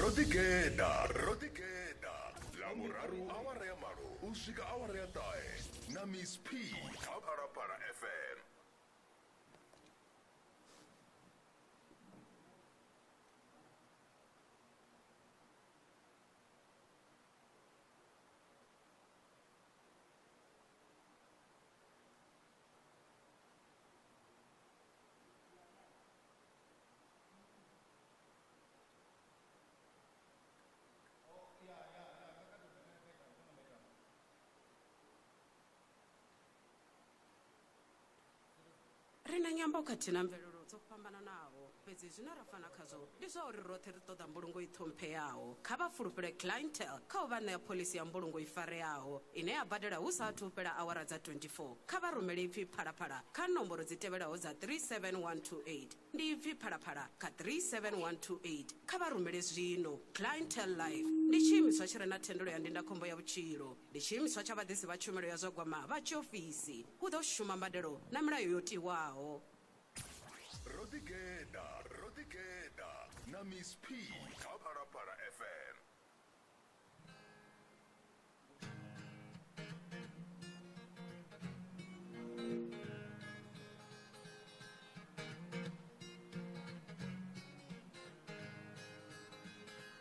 ro ḓigeḓa ro ḓigeḓa ḽavhuraru awara ya malo u swika awara ya ṱahe na miss p kha phalaphala fm ri na nyambo khathihi na mvelelo dzo fhambananaho fhedzi zwine ra fana khazwo ndi zwa uri roṱhe ri ṱoḓa mbulungo i ṱhompheaho. Kha vha fulufhele clientele kha u vha ṋea phoḽisi ya mbulungo i fareaho ine ya badela hu sa athu u fhela awara dza 24. Kha vha rumele ipfi Phalaphala kha nomboro dzi tevhelaho dza 37128. Ndi ipfi Phalaphala kha 37128. Kha vha rumele zwino. Clientele Life ndi tshiimiswa tshi re na thendelo ya ndindakhombo ya vhutshilo. Ndi tshiimiswa tsha vhaḓisi vha tshumelo ya zwa gwama vha tshiofisi. Hu ḓo shuma mbadelo na milayo yo tiwaho. ro ḓigeḓa ro ḓigeḓa na miss p kha phalaphala fm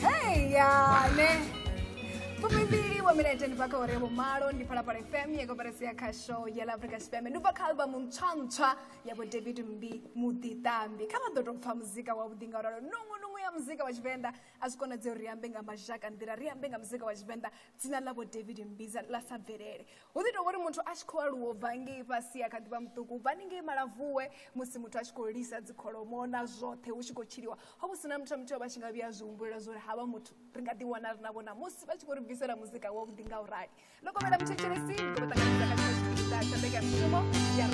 Hey, ya, ne. Pumibili wa mina jeni paka ore bo malo ndi pala pala FM ye koperasi ya kha show ya la Africa Spam. Ndi pa kalba mumtswantswa ya bo David Mbi Muditambi. Kama ḓo tou pfa muzika wa vhuḓi nga ralo. Nungu nungu ya muzika wa Tshivenḓa a zwi konadzei uri ri ambe nga mazhaka nḓila, ri ambe nga muzika wa Tshivenḓa dzina ḽa bo David Mbi za- ḽa sa bvelele. hu ḓi tou vhori muthu a tshi khou aluwa bva ngei fhasi a kha ḓivha muṱuku u bva ni ngei malavuwe musi muthu a tshi khou lisa dzikholomo na zwoṱhe hu tshi khou tshiliwa ho vhu si na muthu a muthu vha tshi nga vhuya zwi humbulela zwa uri havha muthu ri nga ḓiwana ri na vhona musi vha tshi khou ri bvisela muzika wa vhuḓi nga u rali ndo kovhela muthetshelesi ndi khou ṱanganisa kha tshipiḓa tsha mbekanyamushumo ya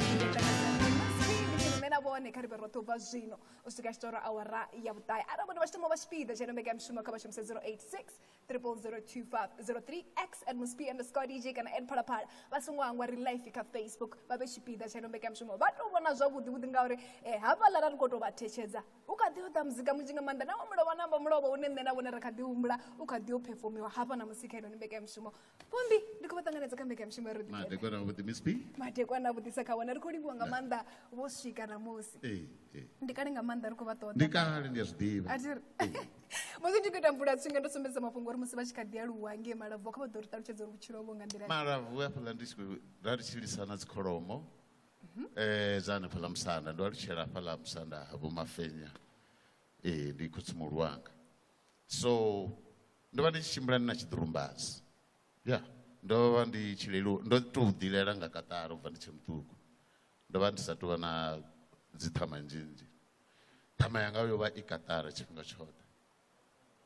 na vhone kha ri vhe roṱhe u bva zwino u swika tshitoro awara ya vhuṱae arali vhone vha tshi thoma vha tshipiḓa tsha ino mbekanyamushumo kha vha shumise 086 002503 x msp underscore dj kana ed phalaphala vha songo hangwa ri life kha facebook vha vhe tshipiḓa tsha nombekeamushumo vha tou vhona zwavhuḓi vhuḓi ngauri um eh, havhaḽa ra ri khou tou vha thetshedza u kha ḓi oḓa muzika munzhi nga maanḓa nawo mulovha namba mulovha une nṋe na vhone ri kha ḓi humbula u kha ḓi o phefomiwa hafha na musi kha inoni mbekeamushumo pombi ndi khou vha ṱanganedza kha mbekanyamushumo ya roḓi madekwana avhuḓi miss p madekwana avhuḓisa kha wana ri khou livhuwa nga maanḓa vho swika namusi ee ee ndi kale nga maanḓa ri khou vha ṱoḓa ndi kale ndi a zwi ḓivha a thi ri musi ndi khou ita mvula tswinga ndo sumbedza mafhungo uri musi vha tshi kha ḓi aluwa ngei malabvu kha vha ḓo ri ṱalutshedza uri vhutshilo vho nga nḓila malabvu hafhaḽa ndi tshi khou ra ri tshilisana dzikholomo um dza hanefhaḽa musanda ndo alutshela hafhaḽa musanda ha vho mafenya ee ndi khotsi muhulu wanga so ndo vha ndi tshi tshimbila ndi na tshiḓurumbazi ya ndo vha ndi tshi lelu ndo tou ḓilela nga kaṱara u bva ndi tshe muṱuku ndo vha ndi sa tou vha na dzi ṱhama nzhinzhi ṱhama yanga yo vha i kaṱara tshifhinga tshoṱhe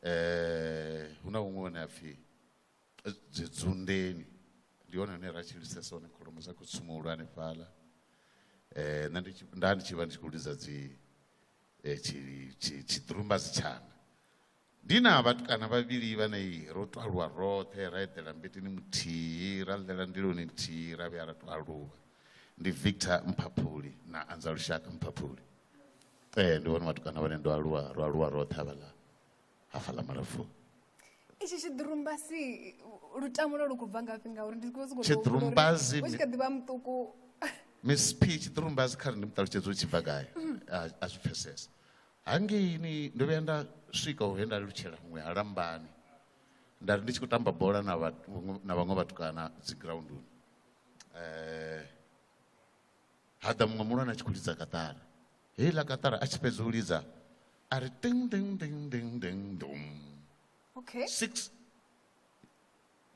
um hu na huṅwe hune a pfhi dzunḓeni ndi hone hune ra tshilisesa hone kholomo dza khou tsumuhulu hanefhaḽa um nṋe nda ndi tshi vha ndi tshi khou lidza dzi tshiḓurumbazi tshanga Ndi na vhatukana vhavhili vhane ro tou aluwa roṱhe ra eḓela mbeteni muthihi ra ḽela ndiloni nthihi ra vhuya ra tou aluwa ndi Victor Mphaphuli na Anza Lushaka Mphaphuli ee ndi vhone vhatukana vhane ndo aluwa ro aluwa roṱhe havhaḽa hafhaḽa malafuni itshi tshiḓirumbasi lutamo lwo lu khou bva ngafhi ngauri ndi khou sokou tshiḓirumbasi u tshi kha ḓivha muṱuku miss p tshiḓirumbasi kha ri ndi muṱalutshedza u tshi bva gai a zwi pfesesa hangeini ndo vhuya nda swika uhe nda lutshela huṅwe ha lambani nda ri ndi tshi khou tamba bola na na vhaṅwe vhatukana dzi grounduni um eh, ha ḓa muṅwe muhulwane a tshi khou lidza kaṱara heiḽa kaṱara a tshi fhedza u lidza a ri ting ting ting ting ting dum okay six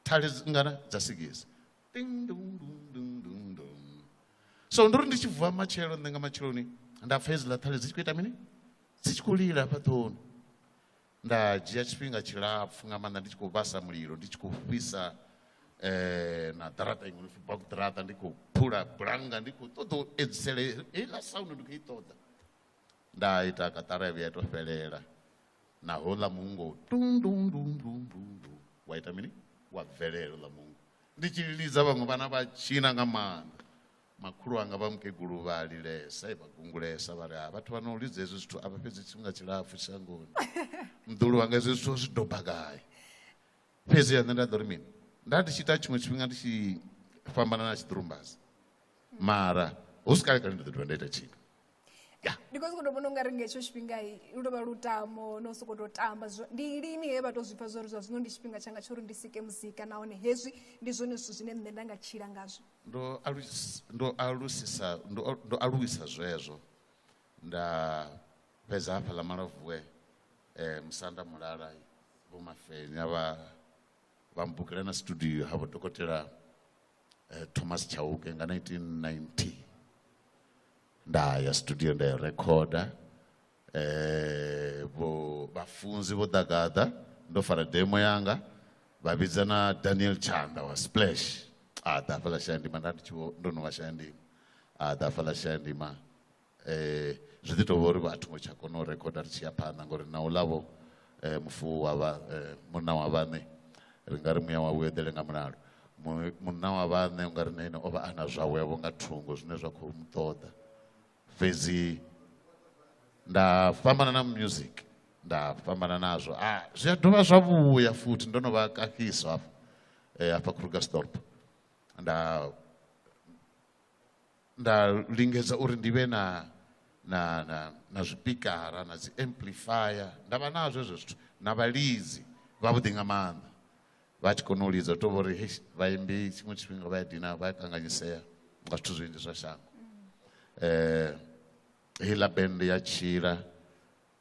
thale ngana dza sigisi so ndo ri ndi tshi vuwa matshelo nṋe nga matsheloni nda pfa hedziḽa thale dzi tshi khou ita mini dzi tshi khou lila hafha ṱhohoni nda dzhia tshifhinga tshilapfu nga maanḓa ndi tshi khou vhasa mulilo ndi tshi khou fhisa eh na ḓaraṱa iṅwe nopfi bak ḓaraṱa ndi khou phula bulanga ndi khou ṱoḓa u edzisele heiḽa sound ndi khou i ṱoḓa nda ita katara ya vhuya to fhelela na houḽa muungo tundundundundundu wa ita mini wa bvelela uḽa muungo ndi tshi lidza vhaṅwe vhana vha tshina nga maanḓa makhulu anga vha mukegulu vha lilesa vha gungulesa vha ri ha vhathu vha no lidza hezwi zwithu a vha fhedzi tshifhinga tshilapfhu shangoni mḓulu wanga hezwi zwithu zwi doba gai fhedzi ya nṋe nda ḓo ri mini nda ndi tshi ita tshiṅwe tshifhinga ndi tshi fhambana na tshiḓirumbazi mara hu si kale kale ndi ḓo dovha nda ita tshithu ndi khou sokou tou vhona u nga ri nga hetsho tshifhinga lu tou vha lutamo no sokou tou tamba ndi lini he vha tou zwi pfha zwa uri zwa zwino ndi tshifhinga tshanga tsha uri ndi sike muzika nahone hezwi ndi zwone zwithu zwine nṋe nda nga tshila ngazwo ndo ndo alusisa ndo aluwisa zwezwo nda fhedza hafha ḽa malavuwe um musanda mulala vho mafenya vha vha mbukela na studio ha vho dokotela eh, thomas chauke nga 1990 nda ya studio nda ya recorder eh vho vhafunzi vho ḓagaḓa ndo fara demo yanga vha vhidza na Daniel Chanda wa Splash a ḓa fhala Shandima nda ndi tshi vho ndo no vha Shandima a ḓa fhala Shandima eh zwi ḓi tovha uri vhathu ngo tsha kona u recorder ri tshi ya phanḓa ngori na u ḽavho eh, mufu wa vha eh, munna wa vhaṋe ri nga ri muya wa vhueḓele nga mulalo munna wa vhaṋe u nga ri na ine o vha a na zwawe vho nga thungo zwine zwa khou mu ṱoḓa fhedzi nda fhambana na music nda fhambana nazwo a ah, zwi a dovha zwa vhuya futhi ndo no vha kahiso hafha eh, hafha krugerstorp nda nda lingedza uri ndi vhe na na na na zwipikara na dzi amplifier nda vha nazwo hezwo zwithu na vhalidzi vhavhuḓi nga maanḓa vha tshi kona u lidza to vhori hei vhaimbi tshiṅwe tshifhinga vha ya dina vha ya kanganyisea nga zwithu zwinzhi zwa shango um heiḽa bende ya tshila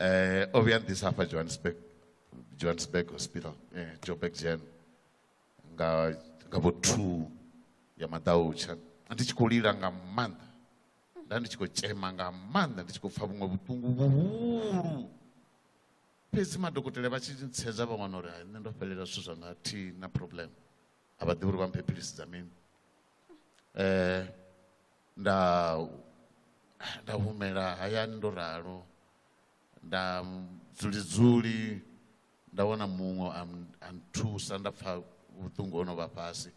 eh, o vhuya nḓisa hafha johannesburg johannesburg hospital eh, joburg gen nga nga vho two ya maḓautsha ndi tshi khou lila nga maanḓa nda ndi tshi khou tshema nga maanḓa ndi tshi khou pfa vhuṅwe vhuṱungu vhuhulu fhedzi madokotela vha tshi ntsedza vha wana uri nṋe ndo fhelela zwithu zwa nga thi na problem a vha ḓivhi uri vha mphe philisi dza mini um nda nda humela hayani ndo ralo nda dzuli dzuli nda wana muṅwe a nthusa nda pfha vhuṱungu ho no vha fhasi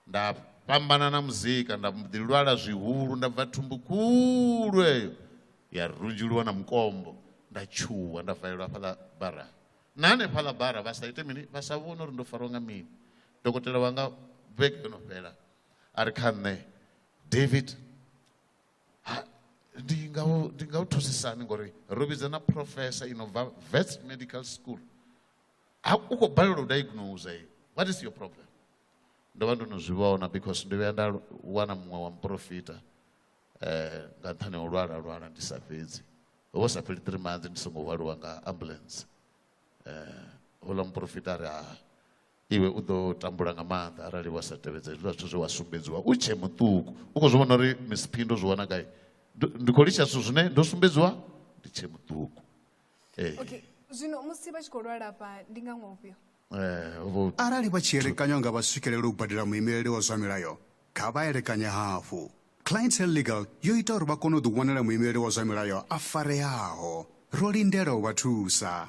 nda fhambana na muzika nda ḓi lwala zwihulu nda bva thumbu khulu eyo ya runzhuluwa na mukombo nda tshuwa nda valelwa hafhaḽa bara na hanefhaḽa bara vha sa ite mini vha sa vhone uri ndo fariwa nga mini dokotela wanga vhege yo no fhela a ri kha nṋe david ndi nga u ndi nga u thusisani ngori ro vhidza na professor i no bva vets medical school ha u khou balelwa u diagnose eh? what is your problem ndo vha ndo no zwi vhona because ndo vhuya nda wana muṅwe wa muprofita um nga nṱhani ha u lwala lwala ndi sa fhedzi ho vha sa fheli three months ndi songo hwaliwa nga ambulance um houḽa muprofita a ri ha Iwe u ḓo tambula nga maanḓa arali wa sa tevhedza hezwiḽa zwithu zwe wa sumbedziwa u tshe muṱuku. U khou zwi vhona uri misiphi ndo zwi wana gai? Ndi khou litsha zwithu zwine ndo sumbedziwa ndi tshe muṱuku. Ee. Okay. Zwino musi vha tshi khou lwala afha ndi nga ṅwaha ufhio? Eh, arali vha tshi elekanywa nga vha swikelela u badela muimeleli wa zwa milayo kha vha elekanye hafhu clientele legal yo ita uri vha kone u ḓiwanela muimeleli wa zwa milayo a fareaho ro lindela u vha thusa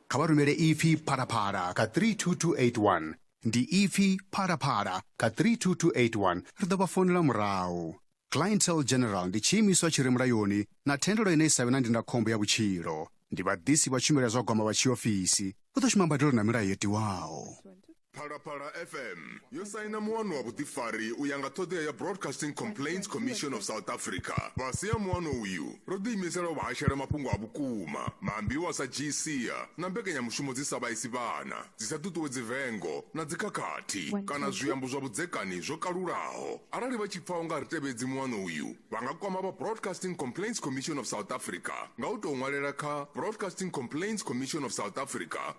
Kha vha rumele ipfi phalaphala kha 32281. Ndi ipfi phalaphala kha 32281, ri ḓo vha founela murahu. Clientele General ndi tshiimiswa tshi re mulayoni na thendelo ine i sa vhe na ndindakhombo ya vhutshilo. Ndi vhaḓisi vha tshumelo ya zwa gwama vha tshiofisi. Hu ḓo shuma mbadelo na milayo yo tiwaho. phalaphala fm yo saina muwano wa vhuḓifari u ya nga ṱhoḓea ya broadcasting complaints commission of south africa fhasi ha muwano uyu ro ḓiimisela u vhahashela mafhungo a vhukuma maambiwa sa gsia na mbekanyamushumo dzi sa vhaisi vhana dzi sa ṱuṱuwedzi vengo na dzikhakhathi kana zwiambo zwa vhudzekani zwo kalulaho arali vha tshi pfa unga ri tevhedzi muwano uyu vha nga kwama vha broadcasting complaints commission of south africa nga u tou ṅwalela kha broadcasting complaints commission of south africa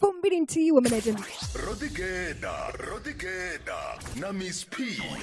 fumbili nthihi wa minete ndi ro ḓigeḓa ro ḓigeḓa na miss p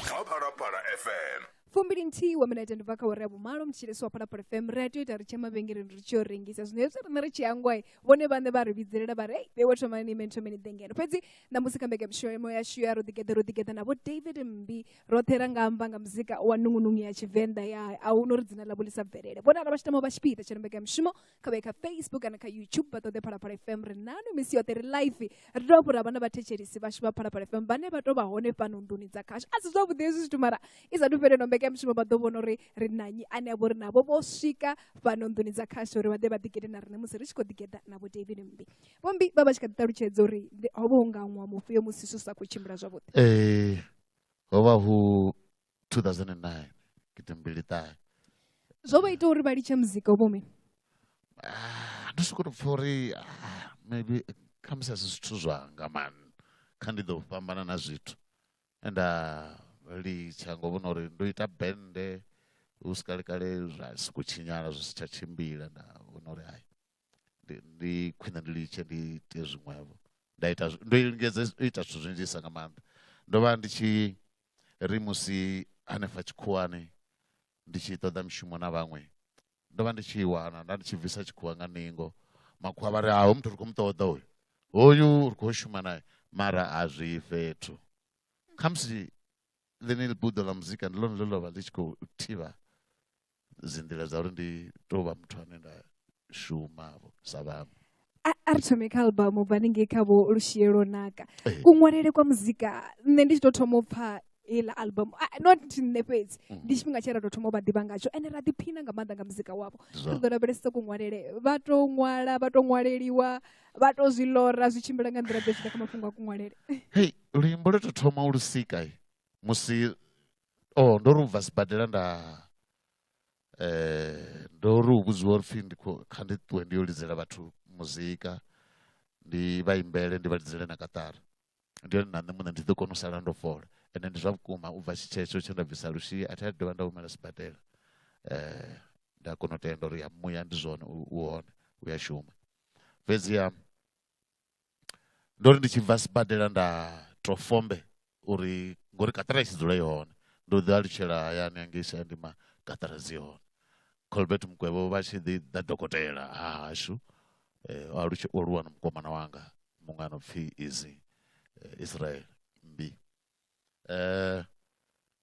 kha phalaphala fm fumbili nthihi wa minete ndi bva kha wari ya vhumalo mutshilesi wa phalaphala fm ri a tea u ita ri tshe mavhengeleni ri tshi yo rengisa zwino hezwi riṋe ri tshi hangwai vhone vhaṋe vha ri vhidzelela vha ri ei vhewe thomani ni imeni thomeni ḓe ngeno fhedzi ṋamusi kha mbekemishomo yashu ya ro ḓigeḓa ro ḓigeḓa navho david mmbi roṱhe ra nga amba nga muzika wa nungunungu ya tshivenḓa ya a hu no ri dzina ḽavho ḽi sa bvelele vhonala vha tshi tama u vha tshipiḓa tsha ri mbekemishumo kha vha ye kha facebook kana kha youtube vha ṱoḓe phalaphala fm ri nanu misi yoṱhe ri life ri tou fhura vhana vhathetshelisi vhashu vha phalaphala fm vhane vha tou vha hone fhano nduni dza khashu a si zwavhuḓi hezwi zwithu mara i sathu fheleno mbekanyamushumo vha ḓo vhona uri ri nanyi ane a vho ri navho vho swika fhano nduni dza khashu uri vha ḓe vha ḓigede na riṋe musi ri tshi khou ḓigeda na vho david mmbi vho mmbi vha vha tshi kha ḓi ṱalutshedza uri ho vha hu nga ṅwa mufhio musi zwi sa khou tshimbila zwavhuḓi ee ho vha hu 2009 gidi mbili ṱahe zwo vha ita uri vha litshe muzika u vhomini ah, ndo sokoto pfa uri ah, maybe khamusi a si zwithu zwanga mani kha ndi ḓo fhambana na zwithu enda ah, litsha ngo vhona uri ndo ita bende hu si kalekale zwa si khou tshinyala zwi si tsha tshimbila nda vhona uri hai ndi ndi khwine ndi litshe ndi ite zwiṅwevho nda ita ndo lingedza u ita zwithu zwinzhisa nga maanḓa ndo vha ndi tshi ri musi hanefha tshikhuwani ndi tshi ṱoḓa mishumo na vhaṅwe ndo vha ndi tshi wana nda ndi tshi bvisa tshikhuwa nga ningo makhuwa vha ri aho muthu ri khou mu ṱoḓa uyu hoyu ri khou shuma naye mara a zwi fhethu khamusi ḽeneḽi buḓo ḽa muzika ndi ḽone ḽe ḽa vha ḽi tshi khou thivha dzi nḓila dza uri ndi tou vha muthu ane nda shuma vho sa vhaṅwe a a ri thome kha albamu bva ningei kha vho lushie lwo naka Ee. kuṅwalele kwa muzika nṋe ndi tshi tou thoma u pfa heiḽa albamu a- not nṋe fhedzi Mhm. ndi tshifhinga tshe ra tou thoma u vha ḓivha ngatsho ende ra ḓiphina nga maanḓa nga muzika wavho Ndi ri zwone. ḓo lavhelesesa kuṅwalele vha tou ṅwala vha tou ṅwaleliwa vha tou zwi lora zwi tshimbila nga nḓila ḓe zwi ḓa kha mafhungo a kuṅwalele hei luimbo lwe to thoma u lu sika musi o oh, ndo ri u bva sibadela nda eh ndo ri u vhudziwa uri pfhi ndi kha ndi ṱuwe ndi yo lidzela vhathu muzika ndi vha imbele ndi vha lidzele na katara ndi yone na nṋe muṋe ndi ḓo kona u sala ndo fola ende ndi zwa vhukuma u bva tshitshetsho tshe nda bvisa lushi a thi a dovha nda humela sibadela eh nda kona u tenda uri ya muya ndi zwone u hone u ya shuma fhedziha Ndo ri ndi tshi bva sibadela nda tou fombe uri ngori kaṱara i tshi dzula i hone, ndo ḓi alutshela hayani hangei Shayandima kaṱara dzi hone. Colbert Mukwevho vha tshi ḓi ḓa dokotela ha hashu o alutshela o aluwa na mukomana wanga muṅwe a no pfhi Easy Israel Mmbi.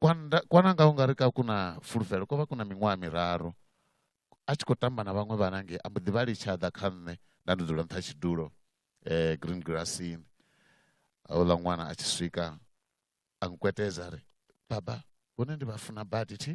Kwanda, kwananga u nga ri ka ku na fulufhelo ko vha ku na miṅwaha miraru a tshi khou tamba na vhaṅwe vhana ngei a mbo ḓi vha litsha ḓa kha nṋe nda ndi dzula nṱha tshidulo eh, green grassini houḽa ṅwana a tshi swika a nkwetedza ri baba vhone ndi vha funa badi thi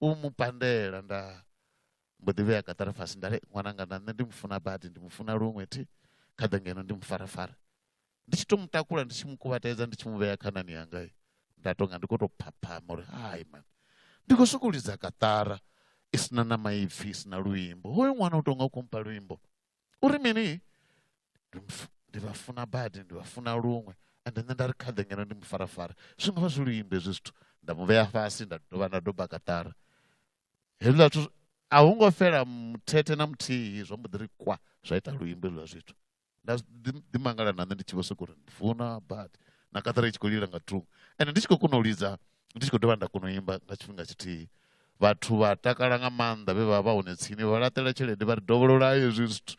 u mu pandela nda mbo ḓi vhea kaṱara fhasi nda ri ṅwananga na nṋe ndi mu funa badi ndi mu funa luṅwe thi kha ḓe ngeno ndi mu farafara ndi tshi to mu takula ndi tshi mu kuvhatedza ndi tshi mu vhea khanani yanga nda tonga ndi khou tou phaphama uri hai mani ndi khou sokou lidza kaṱara i sina na maipfhi i sina luimbo hoyo ṅwana u tonga u khou mpha luimbo uri mini ndi vha funa badi ndi vha funa luṅwe ende nṋe nda ri khaḓe ngeno ndi mufarafara zwi nga vha zwi luimbe hezwi zwithu nda mu vhea fhasi nda dovha nda doba kaṱara hezwiḽa zwithu a hu ngo fhela muthethe na muthihi zwo mbo ḓi ri kwa zwa ita luimbo hezwiḽa zwithu nda ḓi mangala na nṋe ndi tshi vho sokou ri ndi funa badi na kaṱara i tshi khou lila nga thungo ende ndi tshi khou kona u lidza ndi tshi khou dovha nda kona u imba nga tshifhinga tshithihi vhathu vha takala nga maanḓa vhe vha vha hone tsini vha laṱela tshelede vha ri dovholola hezwi zwithu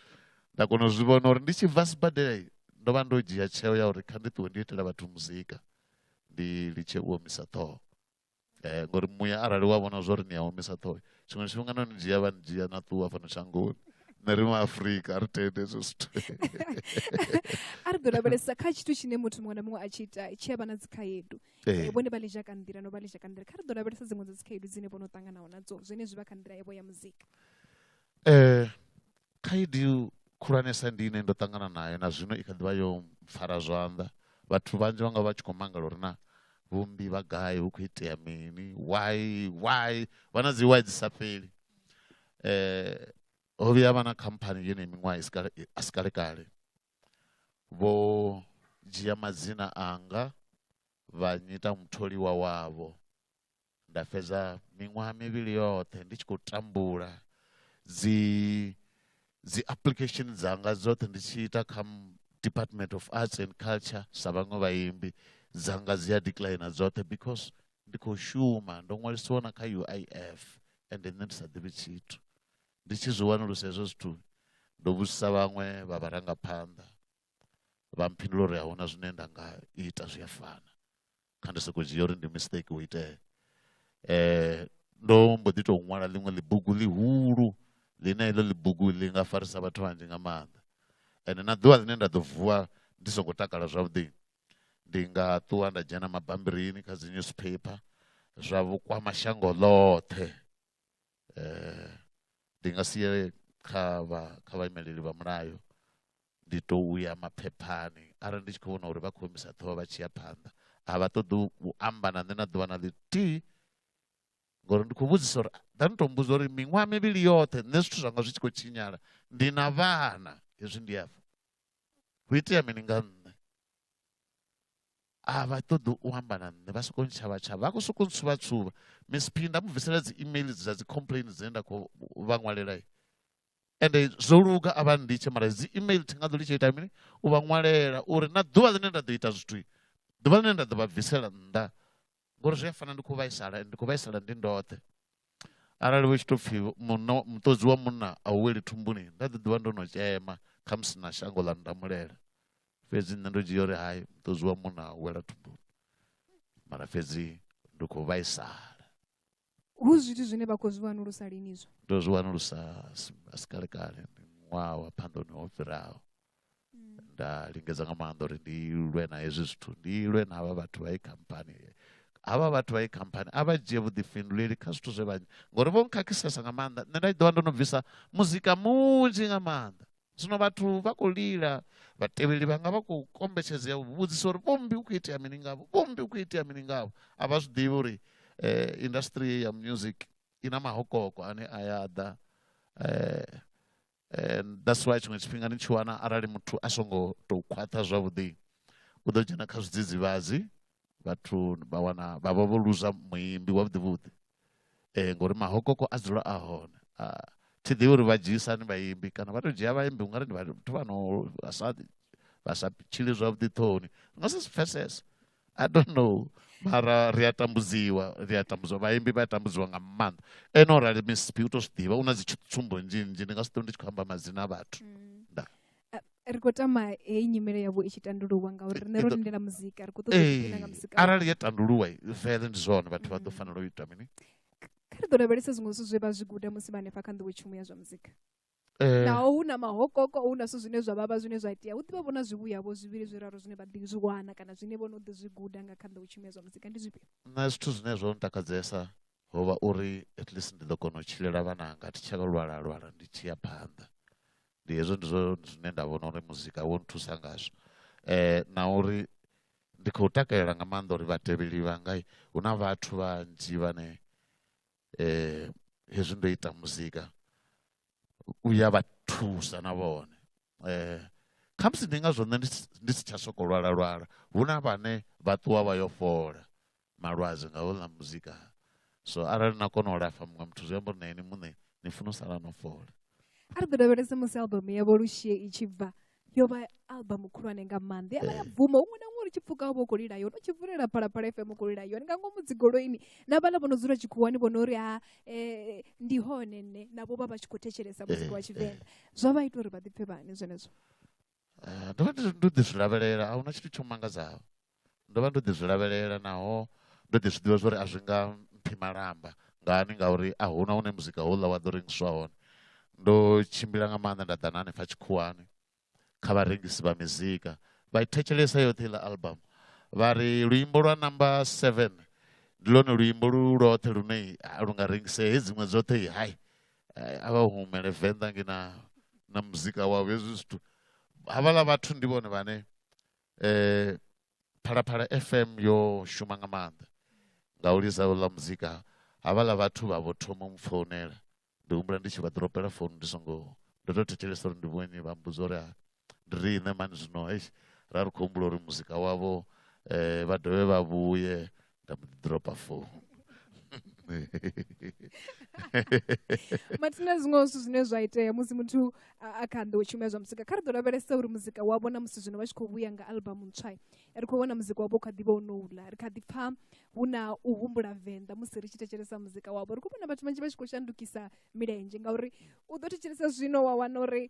nda kona u zwi vhona uri ndi tshi bva sibadela ndo vha ndo dzhia tsheo ya uri kha ndi ṱuwe ndi itela vhathu muzika ndi litshe u omisa ṱhoho um ngori muya arali wa vhona zwa uri ni a omisa ṱhoho tshiṅwe tshifhinga no ni dzhia vha ni dzhia na ṱuwa fhano shangoni nṋe ri maafurika a ri tende hezwo zwithu a ri ḓo lavhelesa kha tshithu tshine muthu muṅwe na muṅwe a tshi ita tshi a vha na dzikhaedu eh, eh. vhone vha litsha ka nḓila no vha litsha ka nḓila kha ri ḓo lavhelesa dziṅwe dza dzikhaedu dzine vho no ṱanganaho nadzo zwine zwi vha kha nḓila yavho ya muzika um khaedu khulwanesa ndi ine ndo ṱangana nayo na zwino i kha ḓivha yo mpfara zwanḓa vhathu vhanzhi vha nga vha tshi khou mangala uri na vhumbi vha gai hu khou itea mini why why vha na dzi why dzi sa fheli um ho vhuya vha na khamphani yone miṅwaha a si kale kale Vho dzhia madzina anga vha nnyita mutholiwa wavho. Nda fhedza miṅwaha mivhili yoṱhe ndi tshi khou tambula, dzi dzi application dzanga dzoṱhe ndi tshi ita kha Department of Arts and Culture sa vhaṅwe vhaimbi, dzanga dzi a decliner dzoṱhe because ndi khou shuma. Ndo ṅwalisiwa na kha U_I_F, ende nṋe ndi sa ḓivhi tshithu. ndi tshi zwi wanulusa hezwo zwithu ndo vhudzisa vhaṅwe vha vharangaphanḓa vha mphindula uri ahuna zwine nda nga ita zwi a fana kha ndi soko dzhia uri ndi mistake wo itea eh ndo mbo ḓi tou ṅwala ḽiṅwe ḽibugu ḽihulu ḽine heḽo ḽibugu ḽi nga farisa vhathu vhanzhi nga maanḓa ende na ḓuvha ḽine nda ḓo vuwa ndi songo takala zwavhuḓi ndi nga ṱuwa nda dzhena mabambirini kha dzi newspaper zwa vhukwama shango ḽoṱhe ndi nga si ye kha vha kha vhaimeleli vha mulayo ndi to uya maphephani arali ndi tshi kho vhona uri vha kho imisa ṱhoho vha tshi ya phanḓa a vha ṱoḓi u amba na nṋe na ḓuvha na ḽithihi ngori ndi khou vhudzisa uri ḓa ni to mmbudza uri miṅwaha mivhili yoṱhe nṋe zwithu zwanga zwi tshi khou tshinyala ndi na vhana hezwi ndi afha hu itea mini nga nṋe a vha ṱoḓi u amba na nṋe vha sokou ntshavha tshavha vha khou sokou ntsuvha tsuvha miss p nda mu bvisela dzi email dza dzi complain dzine nda khou vha ṅwalela ende zwo luga a vha nditshe mara dzi email thi nga ḓo litshe ita mini u vha ṅwalela uri na ḓuvha ḽine nda ḓo ita zwithu ḓuvha ḽine nda ḓo vha bvisela nnḓa ngori zwi a fana ndi khou vhaisala ndi khou vhaisala ndi ndoṱhe arali hu tshi tou pfhi munna muṱodzi wa munna a u weli thumbuni nda ḓi ḓivha ndo no tshema khamusi na shango ḽa ndamulela fhedzi nṋe ndo dzhia uri hai muṱodzi wa munna a u wela thumbuni mara fhedzi ndi khou vhaisala hu zwithu zwine vha khou zwi wanulusa lini izwo ndo zwi wanulusa asi kale kale ndi ṅwaha wa phandoni ho fhiraho mm. nda lingedza nga maanḓa uri ndi lwe na hezwi zwithu ndi lwe na havha vhathu vha i khamphani havha vhathu vha i khamphani a vha dzhie vhuḓifhinduleli kha zwithu zwe vha ngori vho nkhakhisiesa nga maanḓa nṋe nda ḓi ḓovha ndo no bvisa muzika munzhi nga maanḓa zwino vhathu vha khou lila vhatevheli vhanga vha khou kombetshedzea u vhudzisa uri vhombi u khou itea mini ngavho vhombi u khou itea mini ngavho a vha zwi ḓivhi uri eh, industry ya music i na mahokoko ane a ya ḓa eh, eh, that's why tshiṅwe tshifhinga ni tshi wana arali muthu a songo tou khwaṱha zwavhuḓi u ḓo dzhena kha zwidzidzivhadzi vhathu vha wana vha vha vho luza muimbi wa vhuḓivhuḓi um eh, ngori mahokoko a dzula a hone ah, thi ḓivhi uri vha dzhiisani vhaimbi kana vha tou dzhia vhaimbi ungari ndi vhathu vha no vha sa vha sa tshili zwavhuḓi ṱhoni ri nga si zwi pfesese i don't know mara ri a tambudziwa ri a tambudziwa vhaimbi vha a tambudziwa nga maanḓa ene o rali mcp u tou zwi ḓivha u na dzi tsumbo nnzhi nnzhi ndi nga si ṱo ndi tshi khou amba madzina a vhathu mm. ri khou tama heyi nyimele yavho i tshi tandululwa ngauri rine ro lindela muzika ri khou ṱoḓa nga muzika arali ya tandululwa vele ndi zwone vhathu vha ḓo mm. fanela u ita mini kha ri ḓo lavhelesa zwiṅwe zwithu zwe vha zwi guda musi vha hanefha kha nḓowetshumo ya zwa muzika eh. naho hu na mahokoko hu na zwithu zwine zwa vhavha zwine zwa itea hu ḓivha vho na zwivhuyavho zwivhili zwiraru zwine vha ḓi zwi wana kana zwine vho no ḓi zwi guda nga kha nḓowetshumo ya zwa muzika ndi zwifhio na zwithu zwine zwo ntakadzesa ho vha uri at least ndi ḓo kona u tshilela vhananga thi tsha lwala lwala ndi tshi ya phanḓa ndi hezwo ndi zwo zwine nda vhona uri muzika wo nthusa ngazwo um na uri ndi khou takalela nga maanḓa uri vhatevheli vhanga hu na vhathu vhanzhi vhane um hezwi ndo ita muzika u ya vha thusa na vhone khamusi ndi ngazwo nṋe ndi si tsha sokou lwala lwala hu na vhane vha ṱuwa vha yo fhola malwadze nga houḽa muzika so arali na kona u lafha muṅwe muthu zwi amba uri na ini muṋe ni funa u sala no fhola a ri ḓo lavhelese musi albumu yavho lushie i tshi bva yo vha albumu khulwane nga maanḓa ya vha ya bvuma huṅwe na huṅwe ri tshi pfuka vho khou lila yone u tshi vulela phalaphala fm khou lila yone nga ngomu dzigoloini na vhaḽa vho no dzula tshikhuwani vho no ri ha um ndi hone nṋe navho vha vha tshi khou thetshelesa muzika wa tshivenḓa zwa vha ita uri vha ḓipfe vhani zwenezwo eh, ndo vha ndo ḓi zwi lavhelela a huna tshithu tsho mangadzaho ndo vha ndo ḓi zwi lavhelela naho ndo ḓi zwi ḓivha zwa uri a zwi nga mphi malamba ngani ngauri a huna hune muzika houḽa wa ḓo rengiswa hone ndo tshimbila nga maanḓa nda ḓa na hanefha tshikhuwani kha vharengisi vha mizika vha i thetshelesa yoṱhe iḽa album vha ri luimbo lwa number seven ndi lwone luimbo lu lwoṱhe lune lu nga rengisea he dziṅwe dzoṱhe i hai eh, a vha humele venḓa nge na na muzika wavho hezwi zwithu havhaḽa vhathu ndi vhone vhane eh phalaphala fm yo shuma nga maanḓa nga u lisa ḽa muzika havhaḽa vhathu vha vho thoma u mpfounela ndi humbula ndi tshi vha ḓropela founu ndi songo ndo tou thetshelesa uri ndi vhone vha mbudza uri riṋe mani zwino eish ra ri khou humbula uri muzika wavho eh, vha dovhe vha vhuye nda mbo ḓi dropa founu mathina zwiṅwe zwithu zwine zwa itea musi muthu a kha nḓo tshumela zwa muzika kha ri ḓo lavhelesa uri muzika wavho na musi zwino vha tshi khou vhuya nga albamu ntswa ri khou vhona muzika wavho kha ḓivha ono uḽa ri kha ḓi pfha hu na u humbula venḓa musi ri tshi thetshelesa muzika wavho ri khou vhona vhathu vhanzhi vha tshi khou shandukisa milenzhe ngauri u ḓo thetshelesa zwino wa wana uri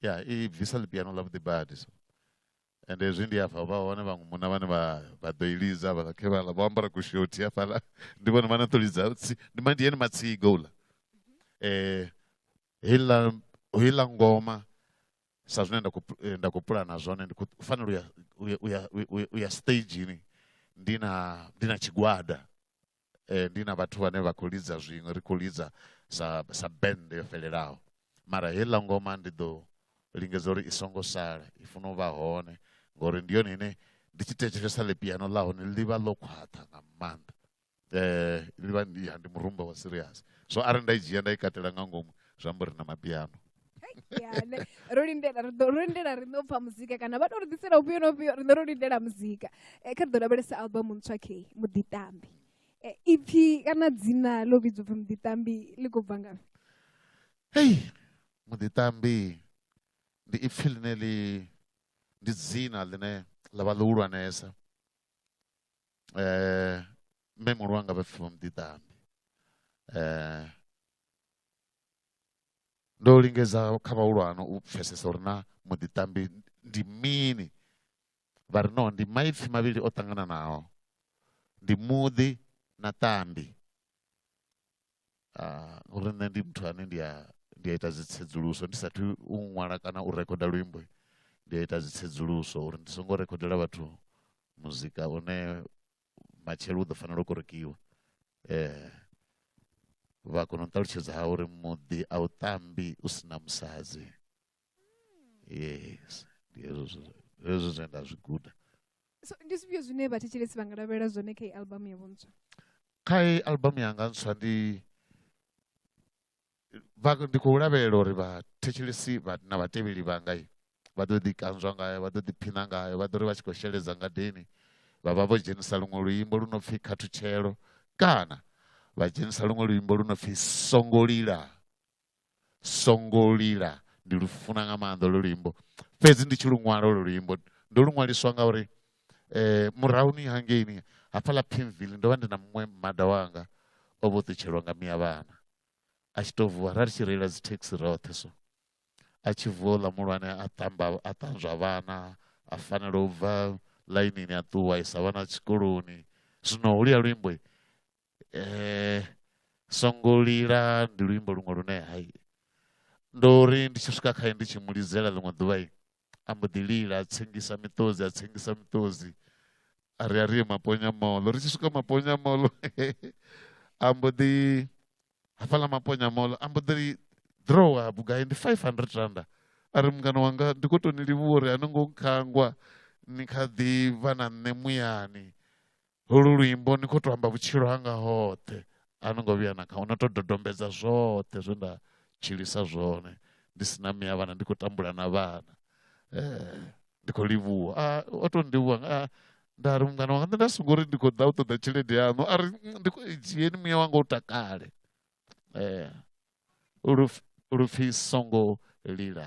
ya i bvisa ḽipiano ḽa vhuḓi badi so and hezwi ndi afha vha hone vhaṅwe munna vhane vha vha ḓo i lidza vhaḽa khevhala vho ambara kushothi hafhaḽa ndi vhone vhane ḓo lidza ndi ma ndi yene matsiga uḽa um heiḽa heiḽa ngoma sa zwine nda khou eh, nda khou pulana zwone ndi khou fanela u ya u ya u ya stagini ndi na ndi na tshigwada eh, ndi na vhathu vhane vha khou lidza zwiṅwe ri khou lidza sa sa band yo fhelelaho mara heiḽa ngoma ndi ḓo lingedza uri i songo sala i funa u vha hone ngori ndi yone ine ndi tshi thetshelesa ḽi piano ḽa hone ḽi vha ḽo khwaṱha nga maanḓa eh ḽi vha ndi murumba wa serious so arali nda i dzhia nda i katela nga ngomu zwi amba uri na mapiano yane ro lindela ri ḓo ro lindela ri ḓo pfha muzika kana vha to ri ḓisela ufhio na ufhio riṋe ro lindela muzika eh, kha ri ḓo lavhelesa album ntswa khe muḓitambi eh, ipfi kana dzina ḽo vhidzwa upfi muḓitambi ḽi khou bva ngafhi hei muḓitambi ndi ipfi ḽine ḽi ndi dzina ḽine ḽa vha ḽihulwanesa um eh, mme muhulu wanga vha pfi vha muḓitambi um ndo lingedza kha vhahulwane u pfhesesa uri na muḓiṱambi ndi mini vha ri no ndi maipfhi mavhili o ṱangananaho ndi muḓi na ṱambi ah, uri nṋe ndi muthu ane ndi a ndi a ita dzitsedzuluso ndi sathu u ṅwala kana u rekhoda luimbo ndi a ita dzitsedzuluso uri ndi songo rekhodela vhathu muzika une matshelo u ḓo fanela u korekiwa um vha kona u ṱalutshedza ha uri muḓi a u tambi u si na musadzi yes ndi hezwo hezwo zwine nda zwi guda so ndi zwifhio zwine vhathetshelesi vha nga lavhelela zwone kha i album yavho ntswa kha i album yanga ntswa ndi vha ndi khou lavhelela uri vhathetshelesi vha na vhatevheli vhanga vha ḓo ḓi kanzwa ngayo vha ḓo ḓiphina ngayo vha ḓo ri vha tshi khou sheledza ngadeni vha vha vho dzhenisa luṅwe luimbo lu no pfhi khathutshelo kana vha dzhenisa luṅwe luimbo lu no pfhi songo lila songo lila ndi lu funa nga maanḓa lwo luimbo fhedzi ndi tshi lu ṅwala lwo luimbo ndo lu ṅwaliswa nga uri um murahuni hangeini hafhaḽa pinville ndo vha ndi na muṅwe mmada wanga o vho ṱutshelwa nga miya vhana a tshi to vuwa ra ri tshi reila dzi taxi roṱhe so a tshi vuwa uḽa muhulwane a ṱamba a ṱanzwa vhana a fanela u bva ḽainini a ṱuwa isa vhana tshikoloni zwino holuya luimbo um eh, songo lila ndi luimbo luṅwe lune hai ndo ri ndi tshi swika khae ndi tshi mu lidzela ḽiṅwe ḓuvha a mbo ḓi lila a tsengisa miṱodzi a tsengisa miṱodzi a ri a ri ye maponya molo ri tshi swika maponya molo a mbo ḓi hafhaḽa maponya molo a mbo ḓi ri drowa vhugai ndi five hundred randa a ri mungana wanga ndi khou tou ni livhuwa uri a no ngo nkhangwa ni kha ḓi vha na nṋe muyani holu luimbo ni khou to amba vhutshilo hanga hoṱhe a no ngo vhuya na kha no to dodombedza zwoṱhe zwe nda tshilisa zwone ndi si na miya vhana ndi khou tambula na vhana eh, ndi khou livhuwa ah, o to ndivhuwa ah, nda ri mungana wanga nṋe nda songo uri ndi khou ḓa u ṱoḓa tshelede yaṋu a ri mm, ndi khou dzhieni muya wanga u takale eh, lupfi songo lila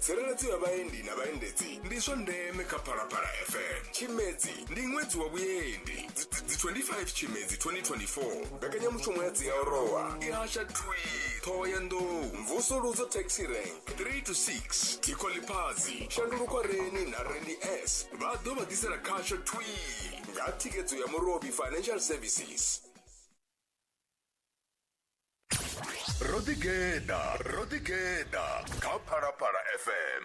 tsireledzo ya vhaendi na vhaendedzi ndi zwa ndeme kha phalaphala fm tshimedzi ndi ṅwedzi wa vhuendi Dzi- dzi- dzi 25 tshimedzi 2024 mbekanyamushumo ya dziaorowa i hasha twi ṱhoho ya nḓou mvusuludzo taxi rank 3 to 6 thikho ḽiphadzi shandulukwa reni na reni s vha ḓo vha ḓisela khasho twi nga thikedzo ya murobi financial services ro ḓigeḓa ro ḓigeḓa kha phalaphala fm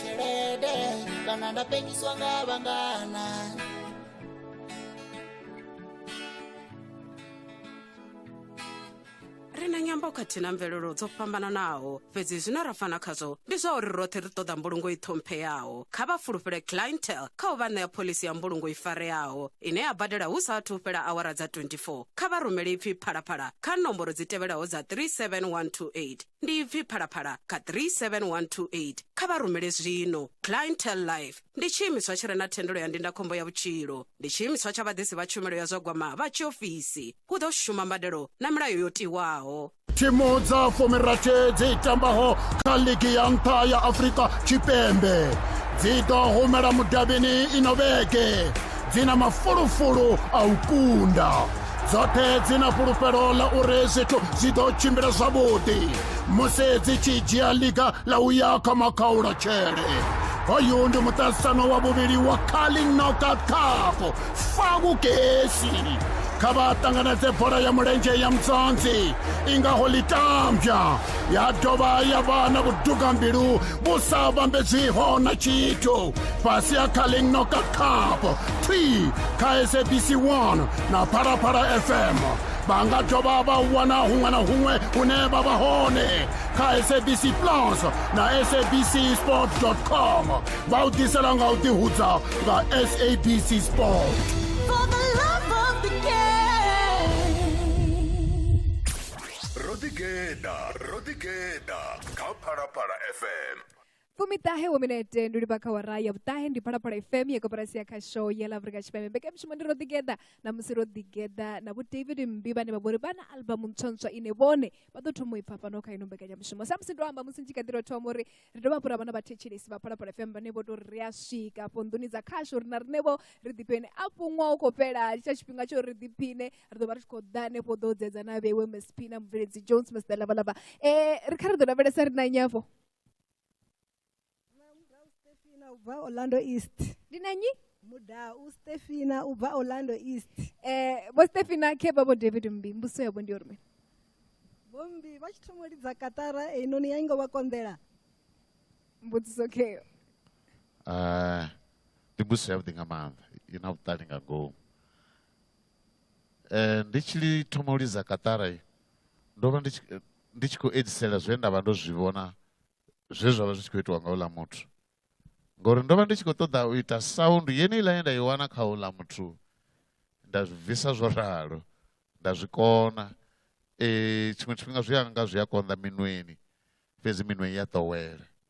tshelede kana nda penyiswa nga vhangana ri na nyambo khathihi na mvelelo dzo fhambananaho fhedzi zwine ra fana khazwo ndi zwa uri roṱhe ri ṱoḓa mbulungo i ṱhompheyaho kha vha fulufhele clientel kha u vha ṋea phoḽisi ya mbulungo i fareaho ine ya badela hu sa athu u fhela awara dza 24 kha vha rumele ipfi phalaphala kha nomboro dzi tevhelaho dza 37128 ndi ipfi phalaphala kha 37128 kha vha rumele zwino clientel life ndi tshiimiswa tshi re na thendelo ya ndindakhombo ya vhutshilo ndi tshiimiswa tsha vhaḓisi vha tshumelo ya zwa gwama vha tshiofisi hu ḓo shuma mbadelo na milayo yo tiwaho thimu dza fumirathe dzi tambaho kha ligi ya nṱha ya afurika tshipembe dzi ḓo humela mudavhini ino vhege dzi na mafulufulu a u kunda dzoṱhe dzi na fhulufhelo ḽa uri zwithu zwi ḓo tshimbila zwavhuḓi musi dzi tshi dzhia liga ḽa u ya kha makhaula tshele hoyu ndi muṱaṱisano wa vhuvhili wa carling knockout cup fa vhugesi kha vha ṱanganedze bola ya mulenzhe ya mudzonzi i ngaho ḽitambya ya dovha ya vha na vhudugambilu vhu sa vhambedzwiho na tshithu fhasi ha kha ḽiṅnoka cup twi kha sabc 1 na phalaphala fm vha nga dovha vha wana huṅwe na huṅwe hune vha vha hone kha sabc plus na sabc sport com vha u ḓisela nga u ḓihudza nga sabc sport For the love of the game. ro ḓigeḓa ro ḓigeḓa kha phalaphala fm fumiṱahe wo minete ndi livha kha wara ya vhuṱahe ndi phalaphala fm ya koporasi ya khasho ya la afrika tshipembe mbekanyamushumo ndi ro ḓigeḓa na musi ro ḓigeḓa na vho david mmbi vhane vha vhori vha na albamu ntswantswa ine vhone vha ḓo thoma u i pfa fhano kha ino mbekanyamushumo sa musi ndo amba musi ndi kha ḓi ro thoma uri ri dovha hafhu ra vha na vhathetshelesi vha phalaphala fm vhane vho to ri ri a swika afho nḓuni dza khasho uri na riṋevho ri ḓiphiṋe afho ṅwaha u khou fhela tsha tshifhinga tsho ri ḓiphiṋe ri ḓo vha ri tshi khou ḓa hanefho ḓo dzedza na vhewe msp na mubveledzi jones mr lavalava um ri kha ri ḓo lavhelesa ri na nyafho Stefina ubva Orlando East. ndi na nyi Muda u Stefina ubva Orlando East. um vho stefina khe vha vho david mmbi mbuso yavho ndi yo rumela Bombi vha tshi thoma u lidza katara einoni ya ingo vha konḓela. mbudziso kheyo Eh, ndi mbuso yavhuḓi nga maanḓa i na vhuṱali nga ngomu ndi tshi li thoma u lidza kaṱara ndo vha ndi tshi ndi tshi khou edzisela zwe nda vha ndo zwi vhona zwe zwa vha zwi tshi khou itiwa nga uḽa muthu ngori ndo vha ndi tshi khou ṱoḓa u ita sound yeneiḽa ye nda i wana kha uḽa muthu nda zwi bvisa zwo ralo nda zwi kona um tshiṅwe tshifhinga zwi anga zwi a konḓa minweni fhedzi minwe i a ḓowela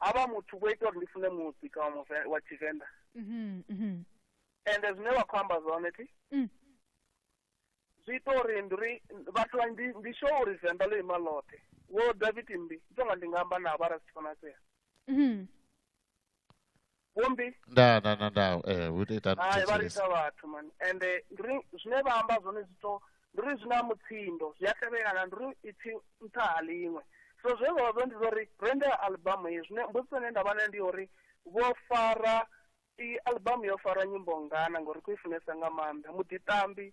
ha vha muthu vho ita uri ndi fune muzika wa muve- wa tshivenḓa Mhm, mhm. ende zwine vha khou amba zwone thi Mm. zwi ita uri ndi ri vhathu vha ndi ndi sure uri venḓa ḽo ima ḽoṱhe wo david mmbi ndi tonga ndi nga amba navho arali zwi tshi konadzea Mhm. vhombi nda nda nda nda eh hu ita ita hai vha lisa vhathu mani ende ndi ri zwine vha amba zwone zwi to ndi ri zwi na mutsindo zwi a tevhelana ndi ri ipfi nṱha ha ḽiṅwe so zwe zwa zwo ndi zwa uri rende albamu ye zwine mbudziso ine nda vha nayo ndi ya uri vho fara i albamu yo fara nyimbo ngana ngori ku i funesa nga maanḓa muḓiṱambi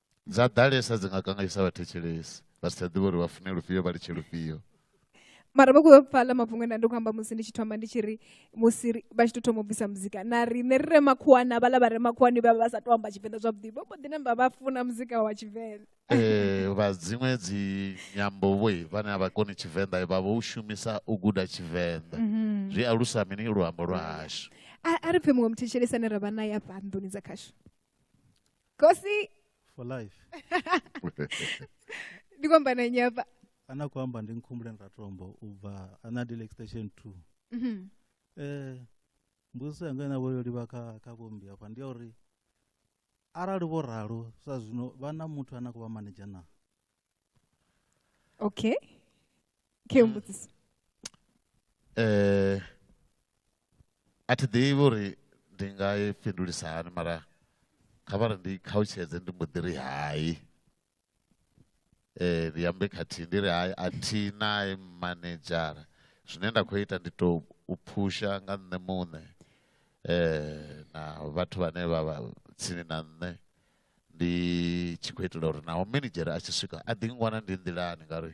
dza ḓalesa dzi nga kanganyisa vhathetshelesi vha si tsha ḓivha uri vha fune lufhio vha litshe lufhio mara vha khou pfala mafhungo ena ndi khou amba musi ndi tshi thoma ndi tshi ri musi vha tshi tou thoma u bvisa muzika na riṋe ri re makhuwana vhala vha re makhuwani vha vha sa tou amba tshivenḓa zwavhuḓi vho mbo ḓi namba vha funa muzika wa tshivenḓa eh, vha dziṅwe dzi nyambo vhoi vhane a vha koni tshivenḓa vha vho u shumisa u guda tshivenḓa mhm. zwi alusa mini luambo lwa hashu a ri pfhe muṅwe muthetshelesi ane ra vha naye afha nḓuni dza khashu kosi for life ndi kwamba na nnyi apa ana kwamba ndi nkhumbulen ratombo ubva ana dile extension 2 Mhm. eh mbudziso yanga ina vho yo livha kha kha vhombi hafha ndi ya uri arali vho ralo sa zwino vha na muthu ane a khou vha manager na Okay. Ke mm. mbudziso. Eh a thi ḓivhi uri ndi nga i fhindulisa hani mara kha vha ri ndi khautshedze ndi mbo ḓi ri hai eh ndi ambe khathihi ndi ri hai a thi nae manedzhara zwine nda khou ita ndi tou u phusha nga nṋe muṋe eh na vhathu vhane vha vha tsini na nṋe ndi tshi khou itela uri naho minidzhere a tshi swika a ḓi ngwana ndi nḓilani ngauri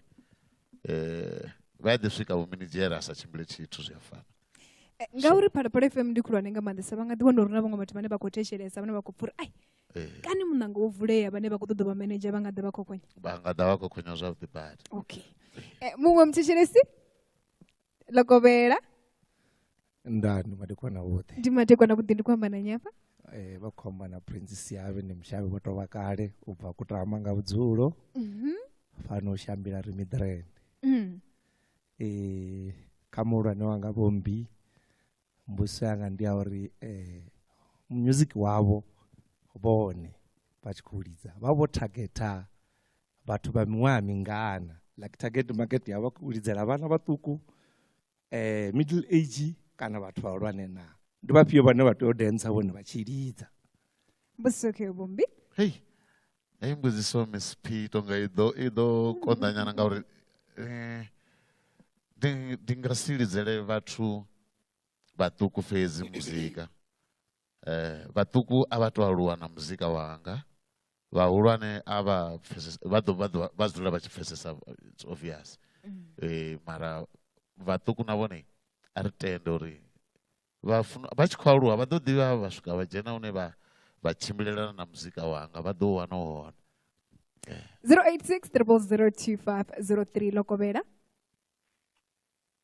um vha a ḓi swika vho minidzhere a sa tshimbile tshithu zwi a fana eh, ngauri phalaphala fm ndi khulwane nga maanḓesa vha nga ḓi wana uri na vhaṅwe vhathu vhane vha khou thetshelesa vhane vha khou pfura ai eh. kani muṋango wo vulea vhane vha khou ṱoḓa vha manager vha nga ḓa vha khokhonya vha nga ḓa vha khokhonya zwavhuḓi badi okay eh, muṅwe muthetshelesi ḽo kovhela nda ndi madekwana vhoṱhe ndi madekwana vhuḓi ndi khou amba na nyafha eh vha khou amba na prince siabe ndi mushavhi vho tovha kale u bva kutama nga vhudzulo mhm. fano u shambila ri midrand mm. eh kha muhulwane wanga vhombi mbuso yanga ndi ya uri eh music wavho vhone vha tshi khou lidza vha vho targeta vhathu vha miṅwaha mingana like target market yavho u lidzela vhana vhaṱuku eh, middle age kana vhathu vhahulwane na ndi vhafhio vhane vha tea u densa vhone vha tshi lidza mbusoke vhumbi hei hei mbudziso miss p tonga i ḓo i ḓo konḓanyana ngauri eh, ndi nga si lidzele vhathu vhaṱuku fhedzi muzika eh, vhaṱuku a vha to aluwa na muzika wanga vhahulwane a vha pfesesa vha ḓo vha ḓo vha dzula vha tshi pfesesa it's obvious mm. eh, mara vhaṱuku na vhone a ri tende uri vha funa vha tshi khou aluwa vha ḓo ḓivha vha swika vha dzhena hune vha vha tshimbilelana na muzika wanga vha ḓo wana hone 086 eh. 0025 03 lokovhela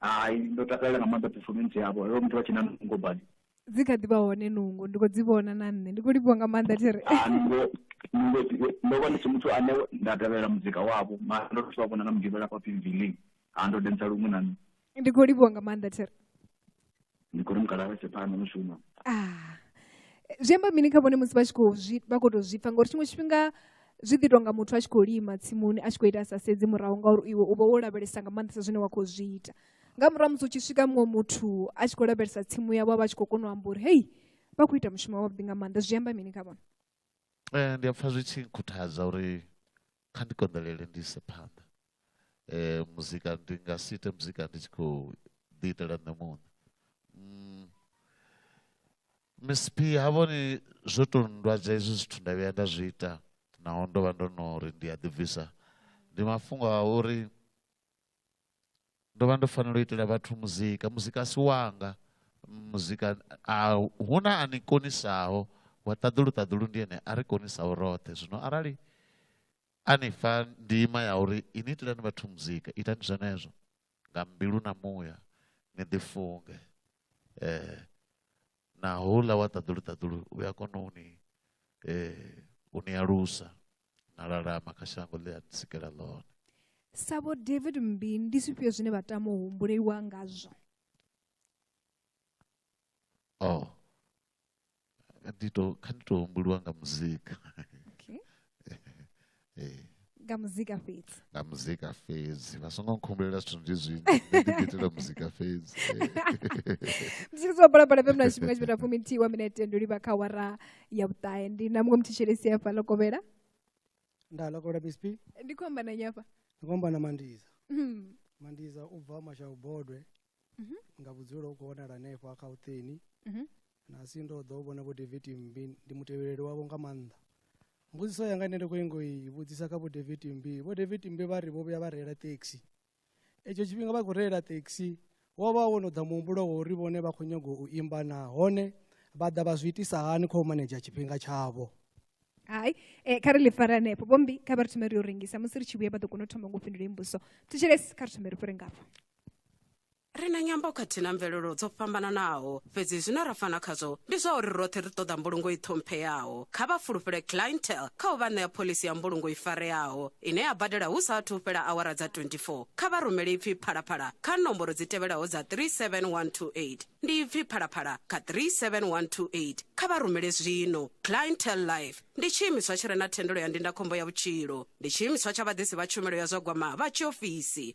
hai ndo takalela nga maanḓa performance yavho yo muthu vha tshi na nungo badi dzi kha ḓi vha hone nungo ndi khou dzi vhona na nṋe ndi khou livhuwa nga maanḓa thiri ah, nungo nungo ndo vha ndi si muthu ane nda tevhelela muzika wavho mara ndo to vha vhona na mugivhela pa pmv link ha ah, ndo densa luṅwe na nṋe ndi khou livhuwa nga maanḓa thiri ndi khou ri mukala vha tshe phanḓa mushumo ah, zwi amba mini kha vhone musi vha tshi khou zwi vha khou tou zwi pfa ngauri tshiṅwe tshifhinga zwi ḓi tonga muthu a tshi khou lima tsimuni a tshi khou ita sa sedzi murahu ngauri iwe u vha wo lavhelesa nga maanḓesa zwine wa khou zwi ita nga murahu musi u tshi swika muṅwe muthu a tshi khou lavhelesa tsimu yavho a vha tshi khou kona u amba uri hei vha khou ita mushumo wavhuḓi nga maanḓa zwi amba mini kha vhone um ndi a pfha zwi tshi nkhuthaza uri kha ndi konḓelele ndi ise phanḓa eh muzika ndi nga si ite muzika ndi tshi khou ḓi itela nṋe muṋe mm. msp ha vhoni zwo tou ndwadza hezwi zwithu nda vhuya nda zwi ita naho ndo vha ndo no ri ndi a ḓibvisa ndi mafhungo a uri ndo vha ndo fanela u itela vhathu muzika muzika a si wanga muzika a hu na a ni konisaho wa ṱaḓulu ṱaḓulu ndi ene a ri konisaho roṱhe zwino arali a ni fha ndima ya uri ini itelani vhathu muzika itani zwenezwo nga mbilu na muya ni ḓifunge eh na houḽa wa ṱaḓulu ṱaḓulu u a kona u ni eh, u ni alusa na lalama kha shango ḽe a sikela ḽone sa vho david mmbi ndi zwifhio zwine vha tama u humbuleliwa ngazwo o oh. ndi to kha ndi to humbuliwa nga muzika okay. eh. nga muzika fhedzi nga muzika fhedzi vha songo nkhumbulela zwithu ndi zwinzhi ndi ḓiitela muzika fhedzi muzika zwa balabala fm na tshifhinga tshipeta fumi nthihi wa minete ndo livha kha wara ya vhuṱahe ndi na muṅwe muthetshelesi hafha ḽo kovhela nda ḽo kovhela misp ndi khou amba na nnyi hafha ndi khou amba na mandiza hmm. mandiza u bva mashawu bodwe mhm. nga vhudzulo u khou wanala hanefho a khautheni mhm. na si ndo ḓo vhona vho david mbi ndi mutevheleli wavho nga maanḓa mbudziso yanga ine ndi khou ingo i vhudzisa kha vho david mbi vho david mbi vha ri vho vhuya vha reila taxi etsho tshifhinga vha khou reila taxi wo vha wo no ḓa muhumbulo wa uri vhone vha khou nyaga u imba nahone vha ḓa vha zwi itisa hani kha u manedzha tshifhinga tshavho hai eh, kha ri ḽi fara hanefho vhombi kha vha ri thome ri yo rengisa musi ri tshi vhuya vha ḓo kona u thoma ngo fhindula imbuso thetshelesi kha ri thome ri fhire ngafho Ri na nyambo khathihi na mvelelo dzo fhambananaho, fhedzi zwine ra fana khazwo ndi zwa uri roṱhe ri ṱoḓa mbulungo i ṱhompheaho. Kha vha fulufhele Clientele kha u vha ṋea phoḽisi ya mbulungo i fareaho ine ya badela hu sa athu u fhela awara dza 24. Kha vha rumele ipfi Phalaphala kha nomboro dzi tevhelaho dza 37128. Ndi ipfi Phalaphala kha 37128. Kha vha rumele zwino. Clientele Life ndi tshiimiswa tshi re na thendelo ya ndindakhombo ya vhutshilo. Ndi tshiimiswa tsha vhaḓisi vha tshumelo ya zwa gwama vha tshiofisi.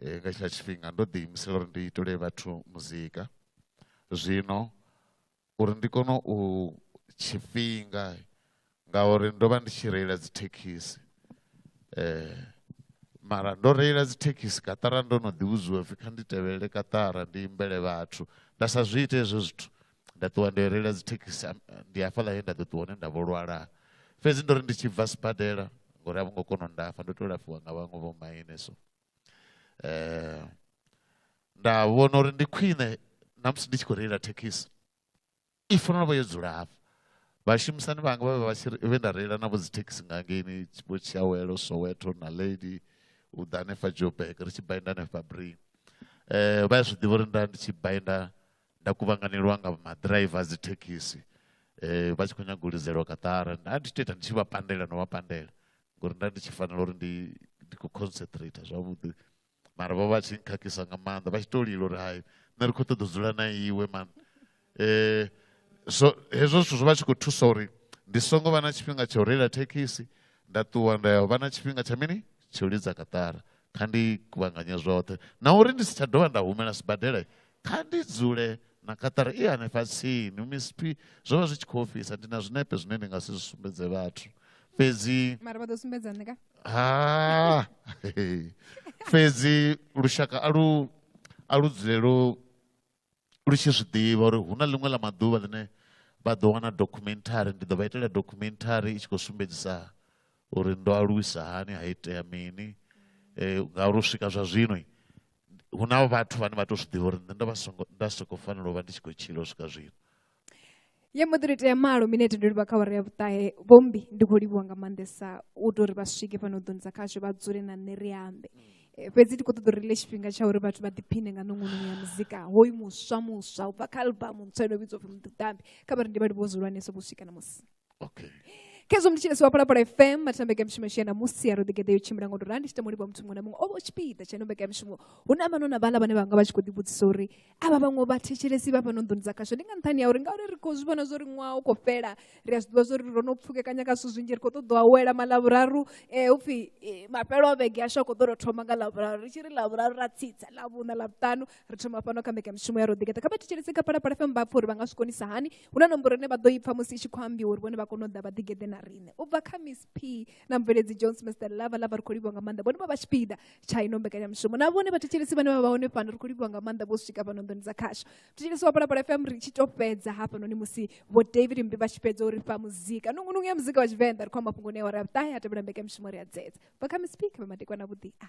eh, nga tshila tshifhinga ndo ḓi imisela uri ndi itele vhathu muzika zwino uri ndi kone u tshifhinga ngauri ndo vha ndi tshi reila dzithekhisi eh mara ndo reila dzithekhisi katara ndo no ḓivhudziwa pfhi kha ndi tevhelele katara ndi imbele vhathu nda sa zwi ite hezwo zwithu nda ṱuwa ndo reila dzithekhisi ndi hafhaḽa he nda ḓo ṱuwa hone nda vho lwala fhedzi ndo ri ndi tshi bva sibadela ngori a vho ngo kona u ndafha ndo to lafhiwa nga vhaṅwe vho maine so Eh, nda vhona uri ndi khwine namusi ndi tshi khou reila thekhisi i fanela u vha yo dzula hafha vhashumisani vhanga vha vha vha tshi ri- vhe nda reila navho dzi thekhisi nga ngeini vho tshiawelo soweto na lady u ḓa hanefha joburg ri tshi bainda hanefha brin um vha ya zwi ḓivha uri nda ndi tshi bainda nda kuvhanganelwa nga maḓiraiva a dzi thekhisi um vha tshi khou nyaga u lidzelwa kaṱara nda ndi tshi tou ita ndi tshi vha pandela no vha pandela ngori nda ndi tshi fanela uri ndi ndi khou concentrate zwavhuḓi mara vho vha tshi nkhakhisa nga maanḓa vha tshi to lila uri hai nṋe ri khou ṱoḓa u dzula na iwe man eh so hezwo zwithu zwo vha tshi khou thusa uri ndi songo vha na tshifhinga tsha u reila thekhisi nda ṱuwa nda ya vha na tshifhinga tsha mini tsha u lidza kaṱara kha ndi kuvhanganye zwoṱhe na uri ndi si tsha dovha nda humela sibadela kha ndi dzule na kaṱara i hanefha tsini misiphi zwo vha zwi tshi khou ofhisa ndi na zwinepe zwine ndi nga si zwi sumbedze vhathu fhedzi mara vha ḓo sumbedza nṋe ka ha fhedzi lushaka a lu a lu dzule lu lu tshi zwi ḓivha uri hu na ḽiṅwe ḽa maḓuvha ḽine vha ḓo wana documentary ndi ḓo vha itela documentary i tshi khou sumbedzisa uri ndo aluwisa hani ha itea mini um ngauri u swika zwa zwino hu na vhathu vhane vha tou zwi ḓivha uri nṋe ndo vha songo nda soko fanela u vha ndi tshi khou tshila u swika zwino ye mbo ḓi ri tea malo minete ndo livha kha wara ya vhuṱahe vhombi ndi khou livhuwa nga maanḓesa u tou ri vha swike fhano ḓoni dza khasho vha dzule na nṋe ri ambe eh, fhedzi ndi khou ṱoḓa uri le tshifhinga tsha uri vhathu vha ḓiphine nga nongononi ya muzika hoyu muswa muswa u bva kha albamu ntswa ino vhidzwa upfhi muḓiṱambi kha vha ri ndi vha livhuwo zwihulwanesa vho swika na musi okay khezwo muthu tshine siwapala pala fm mathina mbekamishumo ishiya na musi ya roḓigeḓe yo tshimbila ngo tou rali tshi tamulibwa muthu muṅwe na muṅwe o vha tshipiḓa tsha ino mbekamishumo hu na vhano na vhala vhane vha nga vha tshi khou ḓivhudzisa uri a vha vhaṅwe vha thetshelesi vha fhano nḓuni dza khasho ndi nga nṱhani ya uri ngauri ri khou zwi vhona zwo ri ṅwaha u khou fhela ri a zwi ḓivha zwo ri ro no pfukekanya nga zwithu zwinzhi ri khou ṱoḓa awela malavhuraru um eh, u pfhi eh, mafhelo a vhege ashu a khou ḓo tou thoma nga lavhuraru ri tshi ri lavhuraru ra tsitsa lavhuṋa lavhuṱanu ri thoma fhano kha mbekanyamushumo ya roḓigeḓa kha vha thetshelese kha phalaphala fm vha pfa uri vha nga zwi konisa hani hu na nomboro ine vha ḓo ipfa musi i tshi khou ambiwa uri vhone vha kone u ḓa vha ḓigeḓe na riṋe u bva kha miss p na mveledzi john smester lava lava ri khou livhiwa nga maanḓa vhone vha vha tshipiḓa tsha ino mbekanyamushumo na vhone vha thetshelesi vhane vha vha hone fhano ri khou livhiwa nga maanḓa vho swika fhano nḓoni dza khasho thetshelesi wa phalaphala fm ri tshi to fhedza hafhanoni musi vho david mbi vha tshi fhedza uri fha muzika nungunungu ya muzika wa tshivenḓa ri khou amba fhungoni ya wara ya vhuṱahe a tevhela mbekanyamushumo ri a dzedza bva kha miss p kha vha madekwana vhuḓi a